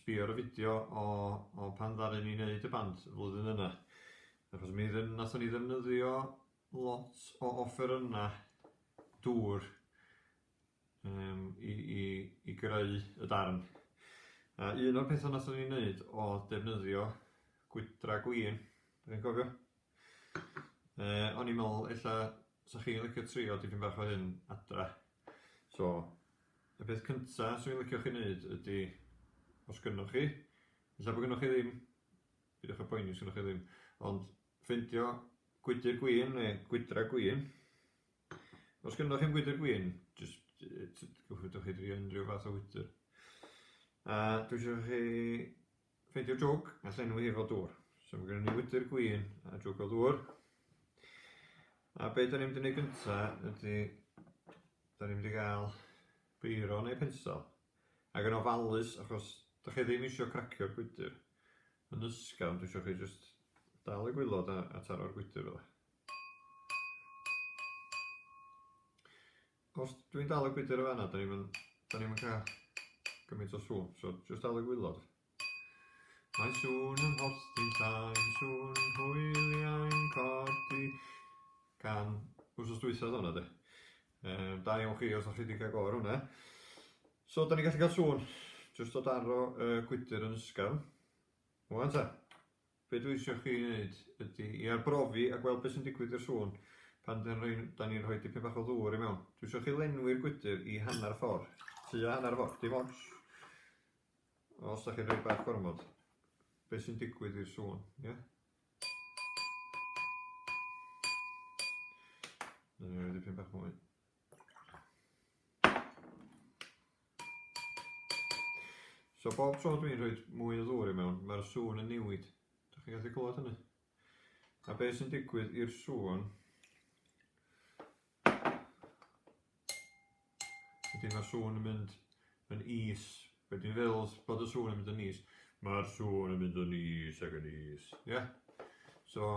Sbïa ar y fideo o o pan ddaru ni neud y band y flwyddyn yna, achos mi dd- nathon ni ddefnyddio lot o offerynna dŵr yym i i i greu y darn. A un o'r petha nathon ni neud o'dd defnyddio gwydra gwin, dwi'n cofio. Yy o'n i'n meddwl ella 'sa chi'n licio trio dipyn bach o hyn adra. So, y peth cynta 'swn i'n licio chi wneud ydy, os gynnoch chi, ella bod gynnoch chi ddim, peidiwch â poeni os gynnoch chi ddim, ond ffeindio gwydr gwin neu gwydra gwin. Os gynnoch chi'm gwydr gwin, jyst yy t- t- gallwch chi drio unrhyw fath o wydr. A dwi isio chi Fyd yw'r jwg, a llenwi hi efo dŵr. So mae gennym ni wydr gwyn a jwg o ddŵr. A be da ni'n mynd i wneud gynta ydy, da ni'n mynd i gael beiro neu pensel. Ac yn ofalus, achos da chi ddim eisiau cracio'r gwydr yn ysgafn, dwi eisiau chi just dal y gwylod a, a taro'r gwydr fel Os dwi'n dal y gwydr yn fanna, da ni'n da ni'n cael gymaint o sŵn, so jyst dal y gwylod. Mae sŵn yn hostyn sain, sŵn hwyliau'n codi, gan wrsos dwythod hwnna de. Um, da iawn chi os o'ch chi wedi cael gofr hwnna. So, da ni'n gallu cael sŵn, jyst o daro y gwydr yn ysgafn. Wan ta. Be dwi isio chi neud ydi i arbrofi a gweld be sy'n digwydd i'r sŵn pan dan roi dan ni'n rhoi dipyn bach o ddŵr i mewn. Dwi isio chi lenwi'r gwydr i hanner ffor, tua hanner ffor, dim ots os da chi'n rhoi bach gormod, be sy'n digwydd i'r sŵn, ie? Dwi isio rhoi dipyn bach mwy. So bob tro dwi'n rhoi mwy o ddŵr i mewn, mae'r sŵn yn newid. Dych chi'n gallu clywed hynny? A beth sy'n digwydd i'r sŵn ydy mae'r sŵn yn mynd yn is. Be dwi'n feddwl bod y sŵn yn mynd yn is? Mae'r sŵn yn mynd yn is ac yn is. Ie? Yeah? So,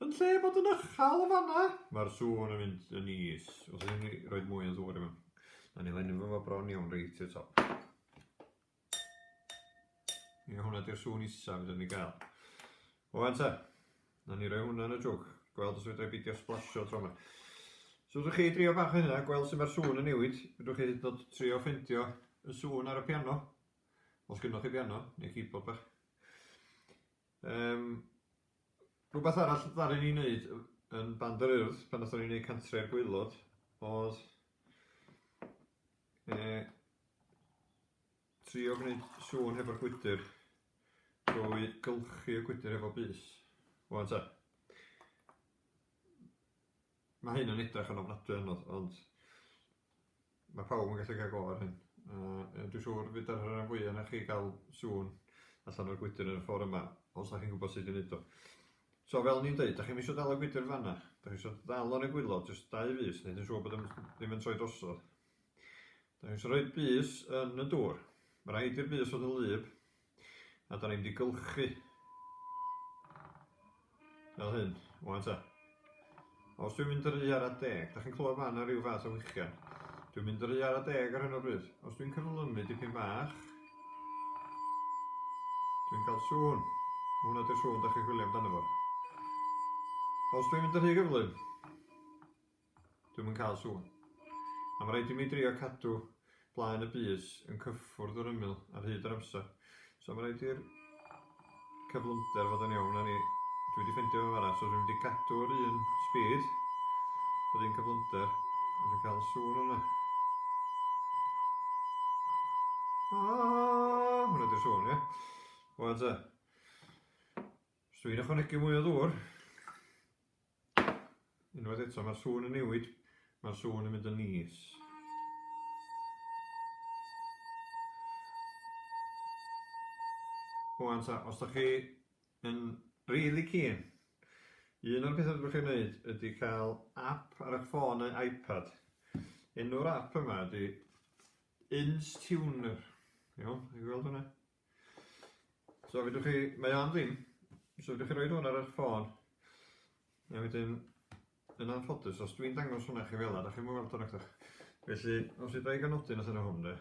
Yn lle bod yn ychal yn fanna! Mae'r sŵn yn mynd yn is. Os ydyn ni roed mwy o sŵn i mewn. Na ni lenni fo bron iawn reit i'r top. Ie, hwnna di'r sŵn isa fydden ni gael. O, anta. Na ni roi hwnna yn y jwg. Gweld os fydden beidio splasio tro yma. So, ydych chi drio bach o hynna, gweld sy'n mae'r sŵn yn newid. Ydych chi hyd trio ffendio y sŵn ar y piano. Os gynnwch chi piano, neu keyboard bach. Yym, rhywbeth arall ddaru ni wneud yn Band yr Urdd pan nathon ni wneud Cantre'r Gwaelod oedd yy trio gwneud sŵn hefo'r gwydr drwy gylchu y gwydr hefo bys. Ŵan ta. Mae hyn yn edrych yn ofnadwy anodd, ond mae pawb yn gallu cael go ar hyn. Uh, dwi'n siŵr fydd yr rhan fwy yna chi gael sŵn allan o'r gwydr yn y ffordd yma, os ydych chi'n gwybod sut i wneud o. So fel ni'n dweud, da chi'n eisiau dal y gwydr fanna, da chi'n eisiau dal o'n egwylo, jyst dau fus, neu yn siŵr bod ddim yn troi drosodd. Da chi'n eisiau rhoi bus yn y dŵr. Mae rhaid i'r bus fod yn lyb, A da ni'n mynd i gylchu. Fel hyn, wan ta. Os dwi'n mynd ry ar a deg, da chi'n clywed fan na rhyw fath o wichian. Dwi'n mynd ry ar a deg ar hyn o bryd. Os dwi'n cyflymu dipyn bach, dwi'n cael sŵn. Hwna di'r sŵn da chi'n chwilio amdano fo. Os dwi'n mynd ry gyflym, Dwi'm yn cael sŵn. A mae rhaid i mi drio cadw blaen y bys yn cyffwrdd yr ymyl ar hyd yr amser. So mae rhaid i'r cyflymder fod yn iawn. Na ni, dwi wedi ffendio fe fanna, so dwi'n wedi cadw'r un speed, yr un cyflymder, a dwi'n cael sŵn yna. Ah, hwnna di'r sŵn, ie. Wel te, os dwi'n ychwanegu mwy o ddŵr, Unwaith eto, mae'r sŵn yn newid, mae'r sŵn yn mynd yn is. Wan ta, os da chi yn really keen, un o'r pethau dwi'n chi'n gwneud ydy cael app ar eich ffôn neu iPad. Enw'r app yma ydy Instuner. Iawn, i gweld hwnna? So fedrwch chi, mae o am ddim, so fedrwch chi roi hwn ar eich ffôn, a wedyn, yn anffodus, os dwi'n dangos hwnna chi fel yna, da chi'n mwyn weld hwnna nacdach? Felly, os i ddraig anodyn allan o hwn, de.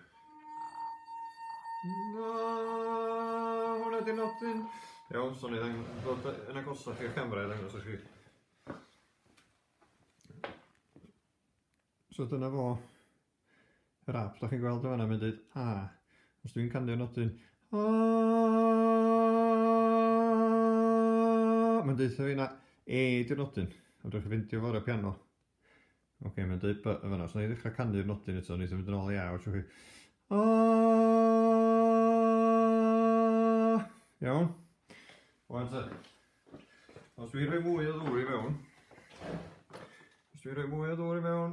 Na, hwnna di nodyn. Iawn, so ni ddangos, ddod yn agosach i'r camera i ddangos i chi. So dyna fo, Yr app, da chi'n gweld o fanna, mae'n dweud A. Os dwi'n canio'r nodyn A, mae'n dweud fi na E di'r nodyn. Ond dwi'n ffeindio fo ar y piano. Oce, okay, mae'n dweud B yn fanna. Os na i ddechrau canu'r nodyn eto, wneud yn mynd yn ôl i A, wrth chi. A! Iawn? Wan te. Os dwi'n rhoi mwy o ddŵr i mewn, os dwi'n rhoi mwy o ddŵr i mewn,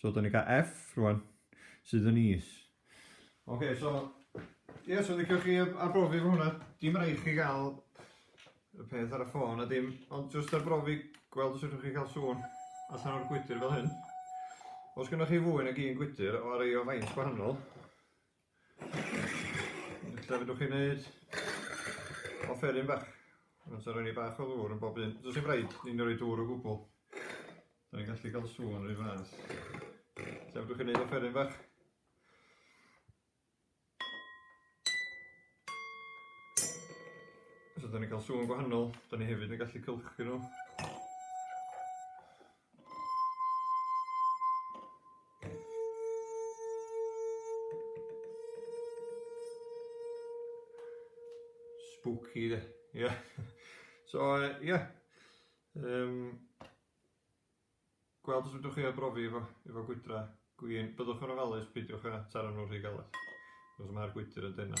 So, da ni cael F rwan, sydd yn is. Oce, okay, so, ie, yeah, so ddechrau chi arbrofi fo hwnna. Dim rhaid chi gael y peth ar y ffôn a dim, ond jyst arbrofi gweld os ydych chi cael sŵn allan o'r gwydr fel hyn. Os gennych chi fwy nag un gwydr o rei o faint gwahanol, Ella fedrwch chi wneud offeryn bach. Mae'n rhoi ni bach o ddŵr yn bob un. Dwi'n sy'n rhaid ni'n rhoi dŵr o gwbl. Da ni'n gallu cael sŵn rhoi fras. Ella fedrwch chi wneud offeryn bach. So da ni'n cael sŵn gwahanol. Da ni hefyd yn gallu cylchu nhw. Spooky de. Yeah. So, uh, yeah. Um, gweld os ydwch chi a brofi efo, efo gwydra gwyn. Byddwch yn ofalus, peidiwch â taro nhw rhy galed. Os mae'r gwydr yn dyna.